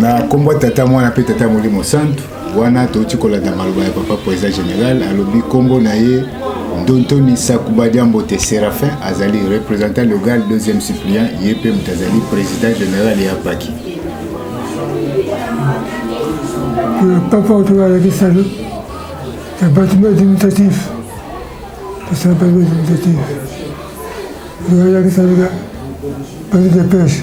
na nkombo ya tata mwana mpe tata molimo santu wana touti kolanda maloba ya papa président général alobi nkombo na ye ndontoni sakuba diambote séraphin azali représentant legal deuxième suppliant ye mpe moto azali président général ya paki papa oyo alakisa yo ya bâtiment administratif tosala bâtiment administratif alakisa yo bazo dépêche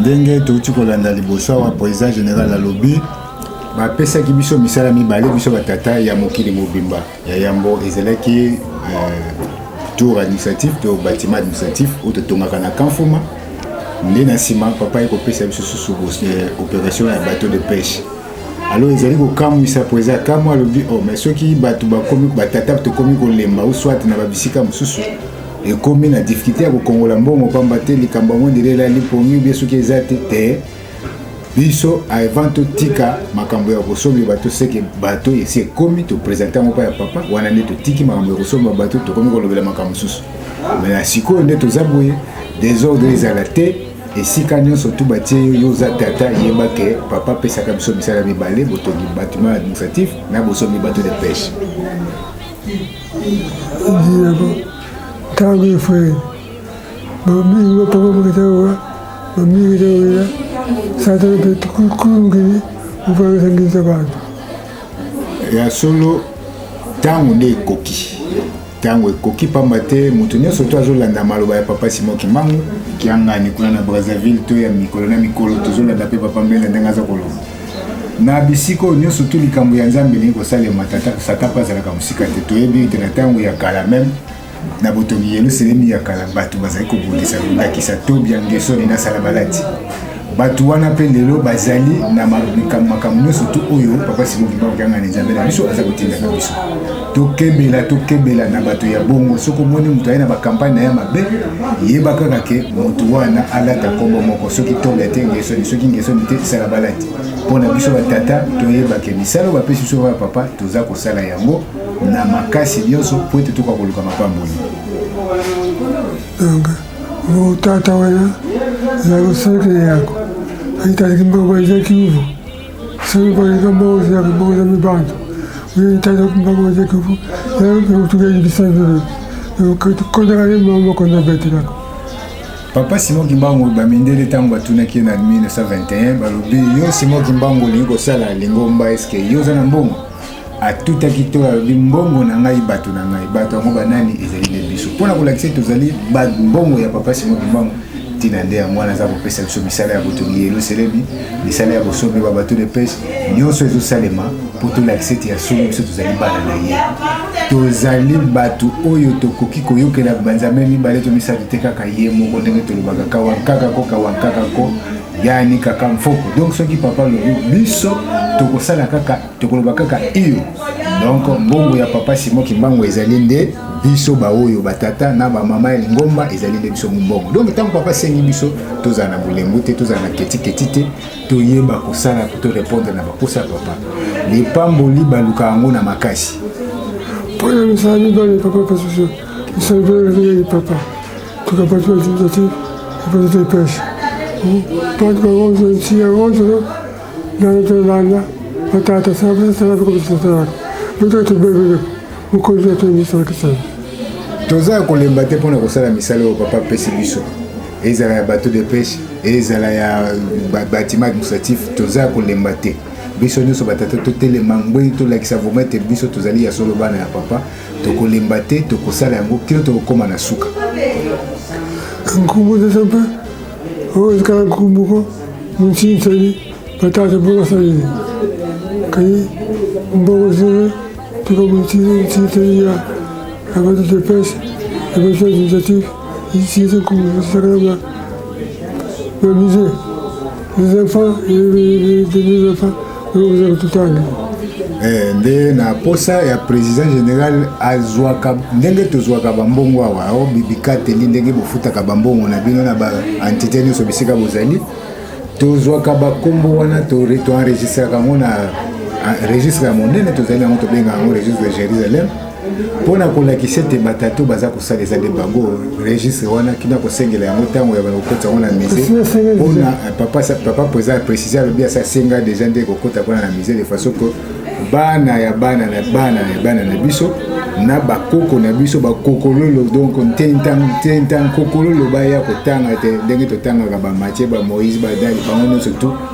ndenge touti kolanda liboso awa président général alobi bapesaki biso misala mibale biso batata ya mokili mobimba ya yambo ezalaki euh, tour administratif to bâtiment administratif oyo totongaka na kanfuma nde na nsima papa ye kopesa biso susu euh, opération ya bateau de pêche alors ezali kokamwisa mpo eza kamwa alobi o oh, mai soki bato bakomi batata tokomi kolemba ou soit na babisika mosusu ekomi na difficulté ya kokongola mbongo mpamba te likambo yango ndele elali pongi obie soki eza te te biso avant totika makambo ya kosomba bato seke bato esi ekomi topresente yango mpa ya papa wana nde totiki makambo ya kosomba bato tokomi kolobela makambo mosusu me na sikoyo nde toza boye desordre ezala te esika nyonso tu batie yo yo oza tata yeba ke papa apesaka biso misala mibale botongi batiment administratif na bosombi bato de pêche ntango efrere bamingi bapapa mokita owa bamingi kita oya satana mpe kulungili mopangisa bantu ya solo ntango nde ekoki ntango ekoki mpamba te moto nyonso to azolanda maloba ya papa simon kimbangu kiangani kuna na brazzaville to ya mikolo na mikolo tozolanda mpe papa mbele ndenge aza koloba na bisika oyo nyonso to likambo ya nzambe elingi kosalema satan mpe azalaka mosika te toyebi ete na ntango ya kala meme na botongi yelusalemi ya kala bato bazali kobundisa ndakisa tobia ngesoni na salabalati bato wana mpe lelo bazali na makambo makambo nyonso tu oyo papa sikokima kokangana nzambe na biso aza kotindaka biso tokebela tokebela na bato ya bongo soki omoni moto aye na bakampagne na ye mabe yeba kaka ke moto wana alata nkombo moko soki tobe te ngesoni soki ngesoni te sala balati mpo na biso batata toyebake misala oyo bapesi biso ya papa toza kosala yango na makasi nyonso mpo ete toka koluka mapamboli okay. Tata wana na loseke yako aitaliki mboko eza kivu soki koleka mboko ozalaka mboko za mibanzo itata mboko eza kivu yaotukaibisa vile kondaka ne moko na betelako papa simon kimbangu bamindele ntango batunaki ye na 1921 balobi yo simon kimbangu olingi kosala lingomba eske yo oza na mbongo atutaki to alobi mbongo na ngai bato na ngai bato yango banani ezali nde biso mpo na kolakisa ete tozali mbongo ya papa simo kimbangu ntina nde yango wana aza kopesa biso misala ya botongi eloselemi misala ya bosombe ba bato de pese nyonso ezosalema mpo tolakisa ete ya solo biso tozali bana na ye tozali bato oyo tokoki koyokela banzambe mibale to misato te kaka ye moko ndenge tolobaka kawankaka ko kawankaka ko yani kaka mfoko donc soki papa lobi biso tokosala kaka tokoloba kaka iyo donc mbongo ya papa simon kimbangu ezali nde biso baoyo batata na bamama ya lingomba ezali nde biso mombongo donc ntango papa asengi biso tozala na bolembu te tozala na ketiketi te toyeba kosala to répondre na baposa ya papa lipamboli baluka yango na makasi mpo na misala mibale papa pasusu misala mibale ndenge papa tukapati batimisa te epesete epesha bantu bango nzoi nsiya ngonzo Nalitelanga na tata sababu sasa na kukuta tata. Ndio tubebe ukonzi wetu ni sana kisana. Toza kolemba te pona kosala misala oyo papa pesi biso. Ezala ya bateau de pêche, ezala ya bâtiment administratif, toza kolemba te. biso nyonso batata totelema ngwei tolakisa vraimen ete biso tozali ya solo bana ya papa tokolemba te tokosala yango kino tokokóma na suka nkombo eza mpe oyo ezikala nkoko moko montini sali batata mpo basaleli kai mboko zile tuka montini montini sali ya abati de pese ebati administratif isinze kusakalama bamize les enfants et les enfants Eh, nde na posa ya président général azwaka ndenge tozwaka bambongo awa o bibikateli ndenge bofutaka bambongo na bino na baentité nyonso bisika bozali tozwaka bakombo wana toenregistraka yango na registre ya monene tozali yango tobenga yango registre de jérusalem mpo na kolakisa ete batatu baza kosala eza nde bango registre wana kina kosengela yango ntango ya kokota yango na musée mpona eh, papa papa président précise alobi asa asenga déjà nde kokota mpona na musée de façon que bana ya bana na bana ya bana na biso na bakoko na biso bakokololo donc ntentankokololo baya kotanga te ndenge totangaka bamatie bamoïse badali bango nyonso tout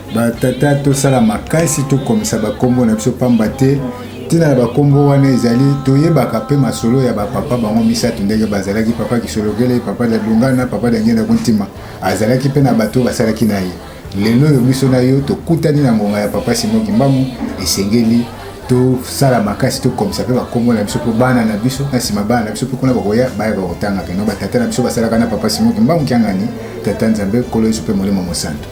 batata tosala makasi tokomisa bakombo na biso pamba te ntina ya bakombo wana ezali toyebaka mpe masolo ya bapapa bango misato ndenge bazalaki papa kisolokele papa da dungana papa da ngenda kontima azalaki mpe na bato basalaki na ye lelo oyo biso na yo tokutani na ngonga ya papa simo kimbangu esengeli tosala makasi tokomisa mpe bakombo na biso mpo bana na biso na nsima bana na biso mpe kuna bakoya bayaka kotanga keno batata na biso basalaka na papa simo kimbangu kiangani tata nzambe kolo yesu mpe molimo mosanto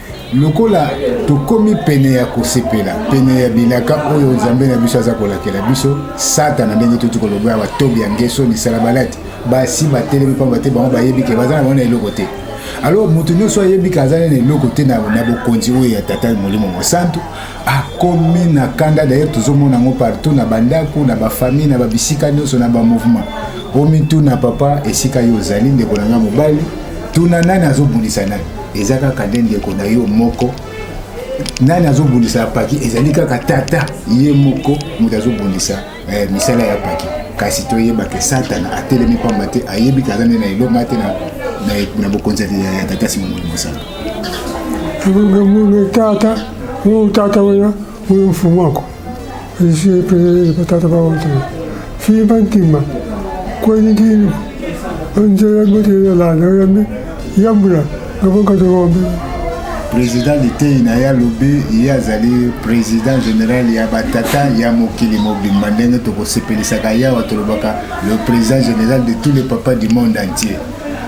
Lokola tokomi pene ya kosepela, pene ya bilaka oyo Nzambe na biso aza kolakela biso, Satana ndenge tuti koloba ya batobi ya ngeso misala balati basi batelemi mpamba te bango bayebi ke baza na bango na eloko te. Alors moto nyonso ayebi ke aza na eloko te na bokonzi oyo ya tata molimo mosantu akomi na kanda. D'ailleurs tozomona yango partout na bandako, na bafamille, na babisika nyonso, na bamouvement. Omituna papa esika yo ozali, ndeko na ngai mobali, tuna nani azobundisa nani. eza kaka nde ndeko na yo moko nani azobundisa ya paki ezali kaka tata ye moko moto azobundisa eh, misala ya paki kasi toyeba ke satana atelemi mpamba te ayebi ke aza nde na eloma te na bokonzi ya tata sima moli mosala tata oyo tata oyo mfumu ako Esi epelele batata baoto fii bantima kwenikini onzela botele lana oyambi yambula ngabonkatomombe président liteyi na ye alobi ye azali président général ya batata ya mokili mobimba ndenge tokosepelisaka yawa tolobaka le président général de tous les papas du monde entier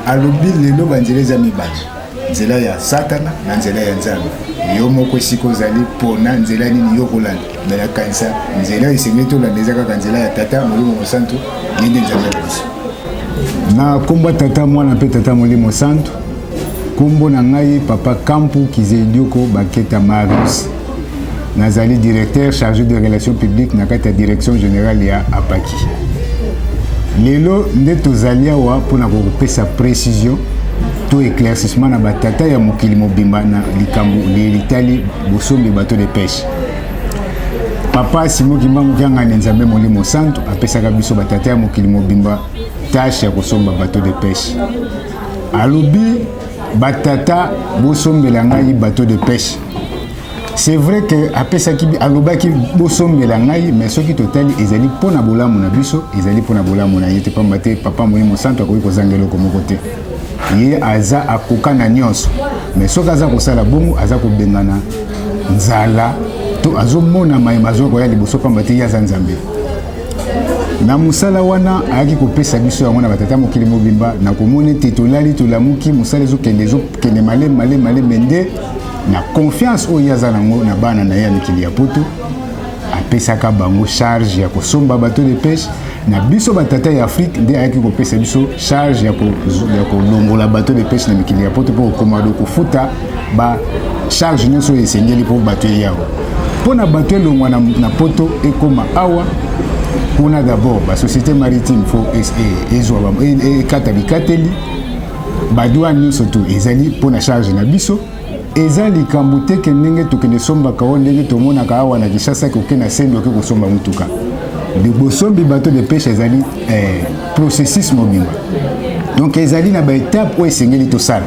alobi lelo banzela eza mibale nzela ya satana na nzela ya nzambe yo moko esika ozali mpona nzela nini yo okolanda me nakanisa nzela esengeli tolanda eza kaka nzela ya tata molimo mosantu ye nde nzambe na biso na nkombo tata mwana mpe tata molimo santu nkombo na ngai papa kampu kizelioko baketa marius nazali directeur chargé de relations publiques na kati ya direction générale ya apaki lelo nde tozali awa mpo na kokopesa précision to éclaircissement na batata ya mokili mobimba na likambo litali bosombi bato de pêche papa simo kimbangu kiangani nzambe molimo santu apesaka biso batata ya mokili mobimba tashe ya kosomba bato de pêche alobi batata bosombela ngai bato de pêche c'est vrai que apesaki alobaki bosombela ngai mais soki totali ezali mpo na bolamu na biso ezali mpo na bolamu na ye te mpamba te papa moye mosantu akoki kozanga eloko moko te ye aza akoka na nyonso mais soki aza kosala bongo aza kobengana nzala to azomona maye mazwa koya liboso mpamba te ye aza nzambe na mosala wana ayaki kopesa biso yango na batata mokili mobimba na komona ete tolali tolamuki mosala ezokende ezokende malemi malemi malemi nde na confiance oyo ye aza nango na bana na ye ya mikili ya poto apesaka bango charge ya kosomba bateau de pêche na biso batata ya afrique nde ayaki kopesa biso charge ya kolongola bateau de pêche na mikili ya poto mpo kokoma do kofuta ba charge nyonso oyo esengeli mpo bato eya awa mpo na bato elongwa na, na poto ekoma awa kuna d'abord basociété maritime fo ezwa ekata bikateli Badwa nyonso to ezali mpo na charge na biso eza likambo te ke ndenge tokende sombaka o ndenge tomonaka awa na Kinshasa koke na sendo oke kosomba motuka bosombi bato de peshe ezali eh, processus mobimba donc ezali na baetape oyo esengeli tosala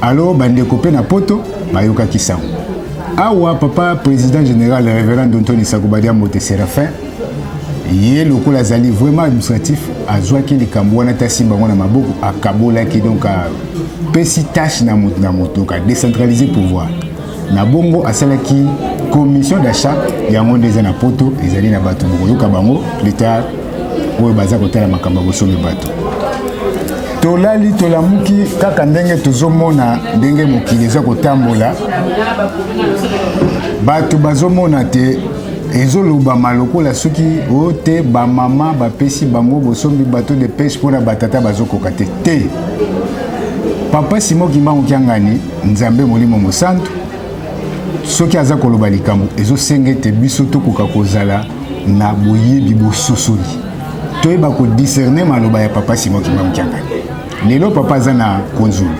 alo bandeko mpe na poto bayokaki sango awa papa président général révérend dontoni sakobadiambote séraphin ye lokola azali vraiment administratif azwaki likambo wana te asimba yango na maboko akabolaki donc apesi tâche na moto na moto ka décentraliser pouvoir na bongo asalaki commission d'achat yango nde eza na poto ezali na bato bokoyoka bango plus tard oyo baza kotala makambo ya bosombi bato tolali tolamuki kaka ndenge tozomona ndenge mokili eza kotambola bato bazomona te ezolobama lokola soki o te bamama bapesi bango bosombi bato de peshe mpo na batata bazokoka te te papa simo kimbangu kiangani nzambe molimo mosantu soki aza koloba likambo ezosenga ete biso tokoka kozala na boyebi bososoli toyeba kodiscerne maloba ya papa simo kimbangu kiangani lelo papa aza na kunzulu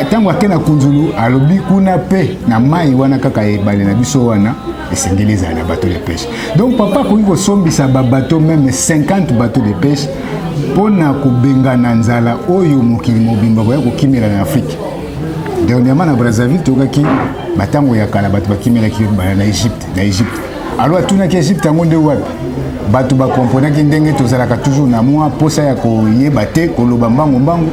ntango ake na kunzulu alobi kuna mpe na mai wana kaka ebale na biso wana esengeli ezala na bateau de pêche donc papa akoki kosombisa babateau meme 50 bateau de pêche mpo na kobengana nzala oyo mokili mobimba koya kokimela na afrike dernièrement na brazzaville tokaki batango ya kala bato bakimelaki na egypte na egypte alo atunaki egypte yango nde wapi bato bakomponaki ndenge tozalaka toujours na mwa mposa ya koyeba te koloba mbango mbango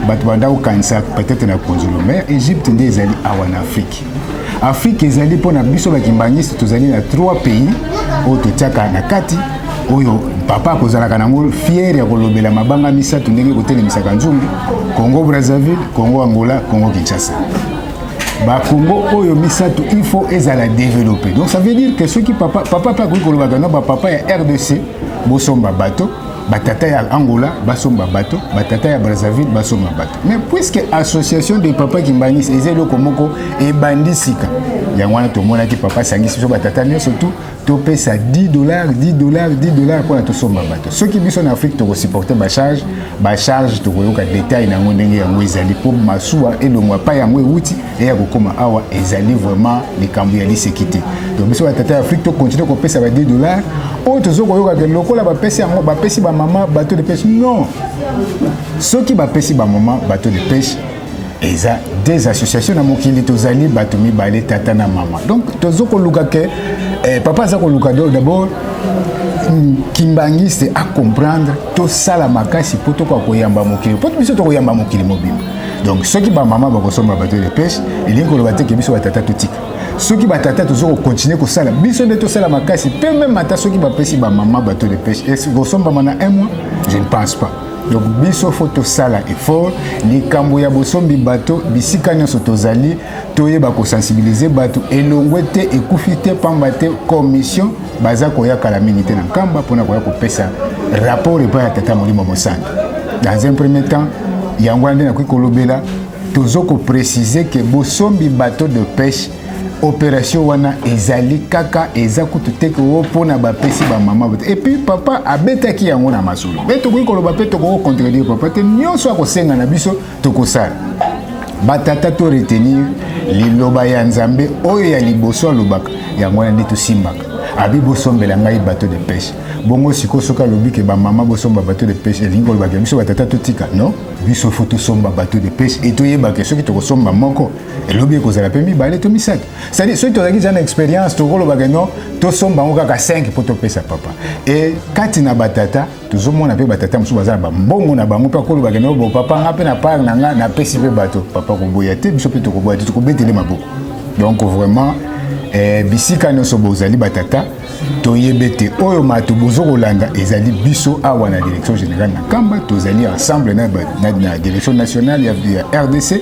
bato banda kokanisa peut-être na konzolo mais egypte nde ezali awa na afrike afrike ezali mpo na biso bakimbangiste tozali na trois pays oyo totiaka na kati oyo papa akozalaka nango fiere ya kolobela mabanga misato ndenge kotelemisaka nzungu congo brazzaville congo angola congo kinshasa bakongo oyo misato il faut ezala développé donc ça veut dire que soki papa papa mpe akoki kolobaka na bapapa ya rdc bosomba bato batata ya angola basomba bato batata ya brazzaville basomba bato mais puisque association de papa kimbanis eza eloko moko ebandi sika yango wana tomonaki papa asangisi biso batata nyonso tu topesa 10 dollars 10 dollars 10 dollars mpona tosomba bato soki biso na afrique tokosupporte bacharge bacharge tokoyoka detail na yango ndenge yango ezali mpo masuwa elongwa epai yango euti eya kokoma awa ezali vraiment likambo ya liseki te to biso batata ya afrique tokontinue kopesa ba 10 dollars oyo tozo koyokaka lokola bapesi yango bapesi bamama bato de peshe non soki bapesi bamama bato de peshe eza des associations na mokili tozali bato mibale tata na mama donc tozo koluka ke eh, papa aza koluka do d'abord mm, kimbangiste acomprendre tosala makasi mpo tokoka koyamba mokili mpo biso tokoyamba mokili mobimba donc soki bamama bakosomba bato de peshe elingi koloba te ke biso batata totika soki batata tozo kokontinue kosala biso nde tosala makasi mpe meme ata soki bapesi bamama bato de peshe ekosombama na un mois je ne pense pas donc biso fo tosala effort likambo ya bosombi bato bisika nyonso tozali toyeba kosensibilize bato elongwe te ekufi te mpamba te commission baza koya kala mingi te na nkamba mpona koya kopesa rapport epai ya tata molimo mosantu dans un premier temps yango wana nde nakoki kolobela tozo koprécise ke bosombi bateau de pêche operation wana ezali kaka eza kutu te koo mpo na bapesi bamama bote epuis papa abetaki yango na masolo mpe tokoki koloba mpe tokoki kocontredire papa te nyonso akosenga na biso tokosala batata to retenir liloba ya nzambe oyo ya liboso alobaka yango wana nde tosimbaka abi bosombela ngai bateau de pêche bongo sikoyo soki alobi ke bamama bosomba bateau de pêche elingi kolobaka biso batata totika non biso fo tosomba bateau de pêche etoyebake soki tokosomba moko elobi ekozala mpe mibale to misato cestadire soki tozalaki za na expérience tokolobaka no tosomba yango kaka 5 mpo topesa papa e kati na batata tozomona mpe batata mosusu baza na bambongo na bango mpe akolobaka no bo papa nga mpe na part na nga napesi mpe bato papa koboya te biso mpe tokoboya te tokobetele maboko donc vraiment eh, bisika nyonso bozali batata toyebe te oyo mato bozo kolanda ezali biso awa na direction générale na kamba tozali ensemble na, na, na direction nationale ya, ya rdc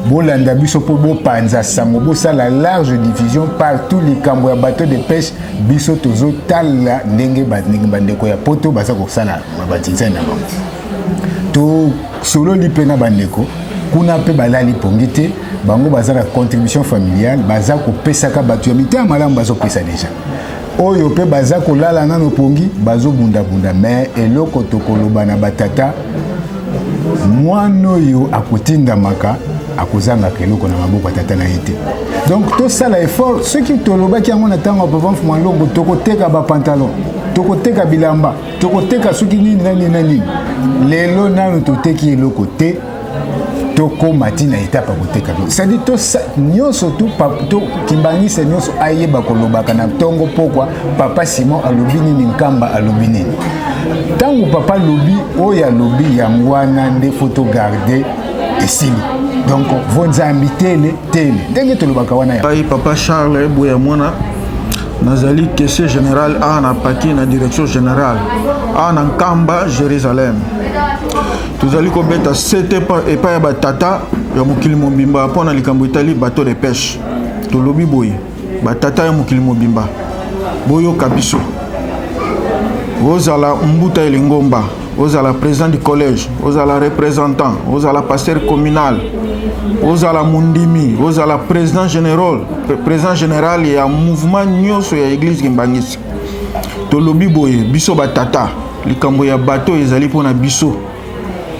bolanda biso mpo bopanza sango bosala large diffusion partout likambo ya bateau de pêche biso tozotala ndenge bandeko ya poto baza kosala batinzani na bango tosololi mpe na bandeko kuna mpe balali pongi te bango baza na contribution familiale baza kopesaka bato ya mitema malamu bazopesa deja oyo mpe baza kolala nano pongi bazobundabunda me eloko tokoloba na batata mwana oyo akotindamaka akozangaka eloko na maboko ya tata na ye te donc tosala effort soki tolobaki yango na ntango ya papa mfuma longo tokoteka bapantalon tokoteka bilamba tokoteka soki nini na nini na nini lelo nano toteki eloko te tokóma ti na etape ya koteka to cestadi nyonso to kimbangisa nyonso ayeba kolobaka na ntongo mpokwa papa simon alobi nini nkamba alobi nini ntango papa alobi oyo alobi yango wana nde fo togarde esili donc vonzambi tele tele ndenge tolobaka wana ya papa charles boya mwana nazali kese général awa na paki na direction générale awa na nkamba jérusalem tozali kobeta sete epai ya batata ya mokili mobimba mpo na likambo etali bateau de pêche tolobi boye batata ya mokili mobimba boyoka biso ozala mbuta ya lingomba ozala président du collège ozala représentant ozala pasteur communal ozala mondimi ozala président général président général ya mouvement nyonso ya église kimbangisi tolobi boye biso batata likambo ya bato oyo ezali mpo na biso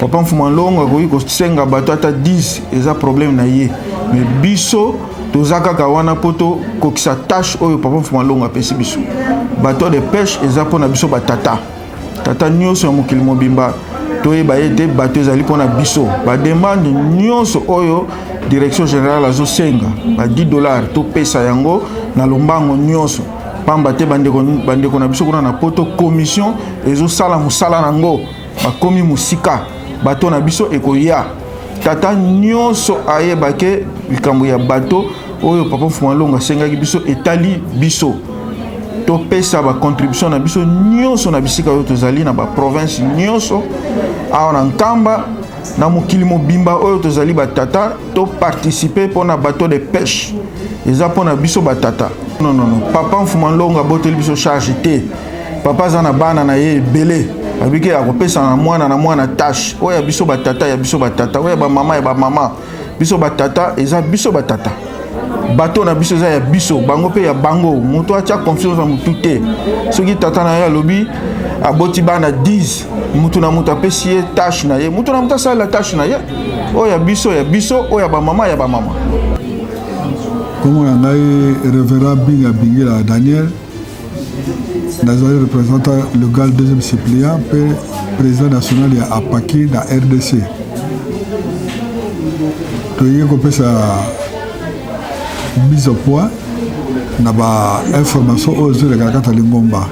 papa mfuma longo akoki kosenga bato ata 10 eza problème na ye me biso toza kaka wana mpo tokokisa tâche oyo papa mfuma longo apesi biso bateau de pêche eza mpo na biso batata tata nyonso ya mokili mobimba toyeba ete bato ezali mpo na biso bademande nyonso oyo direction générale azosenga ba 10 dollars topesa yango na lombango nyonso pamba te bandeko, bandeko na biso kuna na poto commission ezosala mosala na yango bakomi mosika bato na biso ekoya tata nyonso ayeba ke likambo ya bato oyo papa mfuma longo asengaki biso etali biso topesa bacontribution na biso nyonso na bisika oyo tozali na baprovince nyonso awa na nkamba Na mokili mobimba oyo tozali batata, to participer mpo na bateau de pêche eza mpo na biso batata. Non, non, non. Papa Mfuma Longo aboteli biso charge te. Papa aza na bana na ye ebele abiki akopesa na mwana na mwana tâche oyo ya biso batata ya biso batata oyo ya bamama ya bamama biso batata eza biso batata bato na biso eza ya biso bango mpe ya bango moto atya confiance na motu te soki tata na ye alobi aboti bana 10 motu na moto apesi ye tashe na ye motu na moto asalela tashe na ye oyo ya biso ya biso oyo ya bamama ya bamama nkombo na ngai revera binga bingila daniel nazali representant legal deuxième suppléant mpe président national ya apaki na rdc toyei kopesa mise au point na bainformation oyo ezolekana kati ya lingomba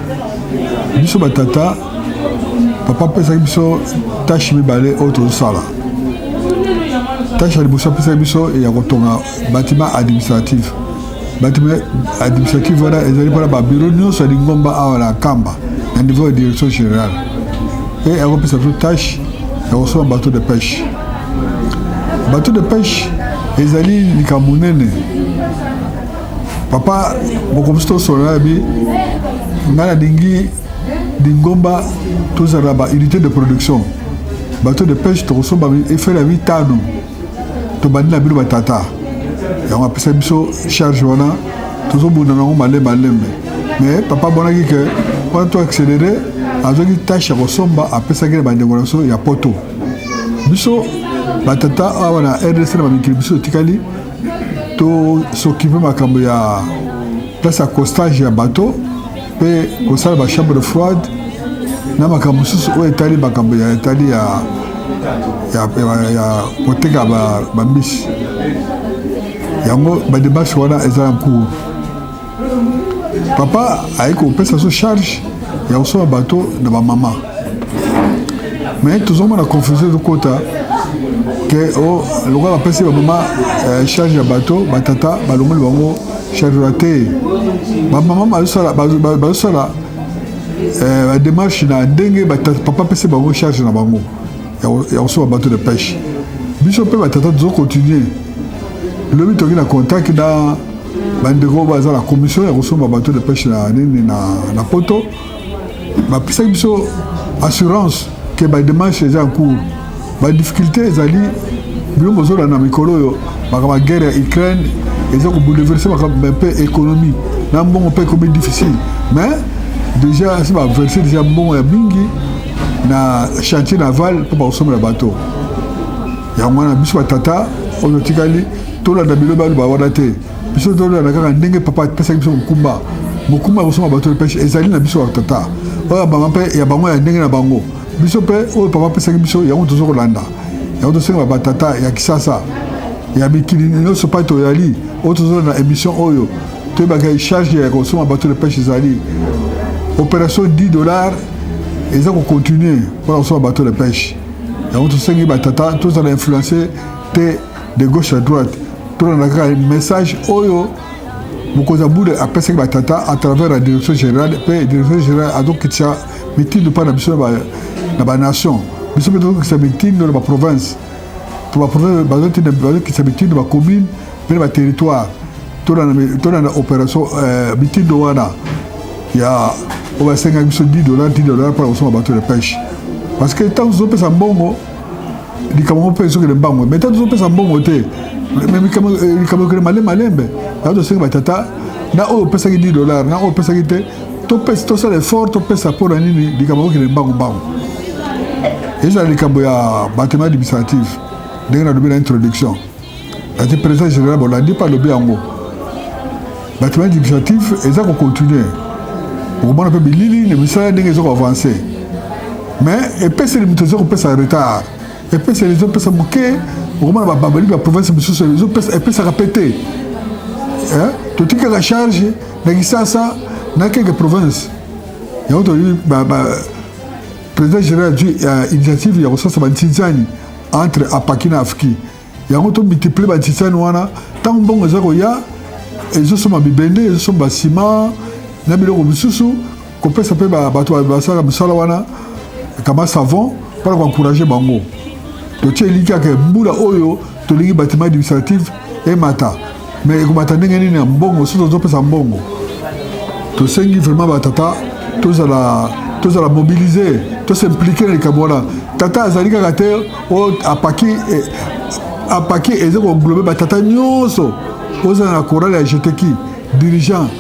biso batata papa apesaki biso tashe mibale oyo tozosala tashe ya liboso apesaki biso ya kotonga bâtiment administratif bato administrative wana ezali mpona babiro nyonso ya lingomba awa na kamba na niveau ya direction générale mpe ekopesa biso tâche ya kosomba bateau de pêche bateau de pêche ezali likambo monene papa bokomisi tosolola yabi ngai nalingi lingomba tozala na baunité de production bateau de pêche tokosomba efele ya mitano tobandi na bino batata yango apesa biso charge wana tozobunda nango malembe malembe mais papa amonaki ke wana to accéléré azwaki tâche ya kosomba apesaki na bandeko na biso ya poto biso batata awa na rdc na bamikili biso etikali tosokipe makambo ya place ya costage ya bateau mpe kosala ba chambre froide na makambo mosusu oyo etali makambo ya etali ya, ya, ya, ya koteka bambisi ba yango bademarche wana eza na cour papa aye kopesa biso charge ya kosomba bato na bamama mais tozomona confusion ezokota ke oh, lokola bapesi bamama eh, charge ya bato batata balongoli bango Charura te bamama bazosala bazosala eh, bademarche na ndenge papa apesi bango charge na bango ya kosoba bato de pêche biso mpe batata tozo continue lobi toki na contact na bandeko baza na commission ya kosomba bato de pêche na nini na poto bapesaki biso assurance ke bademarche eza en cours badifficulté ezali bino bozolanda na mikolo oyo makambo ya guerre ya ukraine eza kobouleverse makambo mpe économie na mbongo mpe ekomi difficile mais déjà asi baverse déjà mbongo ya mingi na chantier naval mpo bakosombela bato yango wana biso batata oyo totikali tolanda bilobaloba wana te biso tolanda kaka ndenge papa apesaki biso mokumba mokumba ya kosomba bato lepeshe ezali na biso batata oyo banga mpe ya bango ya ndenge na bango biso mpe oyo papa apesaki biso yango tozo kolanda yango tosenga batata ya kisasa ya mikili nyonso mpai toyali oyo tozolanda émission oyo toyebaka charge ya kosomba bato lepeshe ezali opération 10 dollars eza kocontinue mpona kosomba bato lepeshe yango tosengi batata tozala influence te de gauche à droite tolanda kaka message oyo mokonzi ya bule apesaki batata à travers la direction générale mpe direction générale azokitisa mitindo mpa na biso na banation biso mpe tozokitisa mitindo na baprovince mpo baprovince bazokitisa mitindo bacommune mpe na baterritoire tolanda opération euh, mitindo wana ya oyo basengaki biso 10 dollar 10 dollar mpona kosomba bato ya peshe parce que ntango tozopesa mbongo likambo moko mpe ezokende mbango me ntango tozopesa mbongo te likambo ekende malembe malembe yango tosengi batata na oyo opesaki 10 dollar na oyo opesaki te topesa tosala effort topesa mpo na nini likambo ekokende mbango mbango ezala likambo ya bato administrative ndenge nalobi na introduction ati président général bolandi mpe alobi yango batima administratif eza kocontinue okomona mpe bilili na misala ndenge eza koavanse mais epeseli moto eza kopesa retard epeseli ezopesa moke okomona bababali ba province mosusu epesaka mpe te totikaka charge na kisasa na keke province yango toli président général ya initiative ya kosasa bantinzani entre apaki na afki yango to multiplie batisani wana ntango mbongo eza koya ezosomba bibende ezosomba sima na biloko mosusu kopesa mpe bato basalaka mosala wana kama savon mpona koencourage bango totie eliki yake mbula oyo tolingi batiment administrative emata mais ekobata ndenge nini ya mbongo soki tozopesa mbongo tosengi vraiment batata tozala tozala mobilise tosimplike na likambo wana tata azali kaka te oyo apaki eh, apaki eza koglobe batata nyonso ozala na korale ya jeteki dirigeant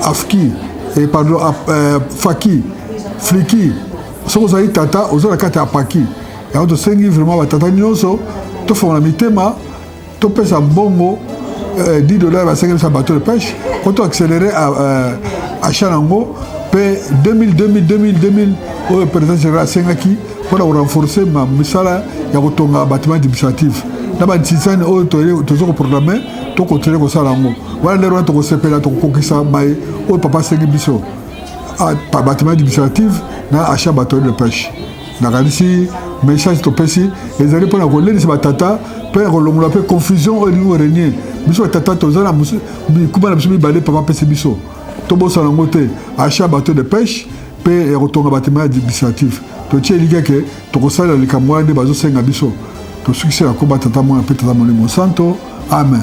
afki eh, pardon eh, faki fliki soki ozali tata oza na kati ya apaki yango tosengi vraiment batata nyonso tofongola mitema topesa mbongo 10 euh, dollars basengelisa bateau de pêche po to accéléré euh, achat nango mpe 2000 2000 2000 2000 oyo président général asengaki mpo na korenforce misala ya kotonga batiment administratif na bantisani oyo toza koprograme tokontinue kosala yango wana lelo wana tokosepela tokokokisa mai oyo papa asengi biso ah, batiment administratif na achat bateau de pêche Nakanisi message topesi ezali mpo na kolendisa batata mpe na kolongola mpe confusion oyo elingi korenye biso batata toza na bikuba na biso mibale papa apesi biso tobosana yango te achat bateau de pêche mpe ya kotonga batima administratif totie elikya ke tokosalela likambo wana nde bazosenga biso tosukisi na koba tata mwana mpe tata molimo santo amen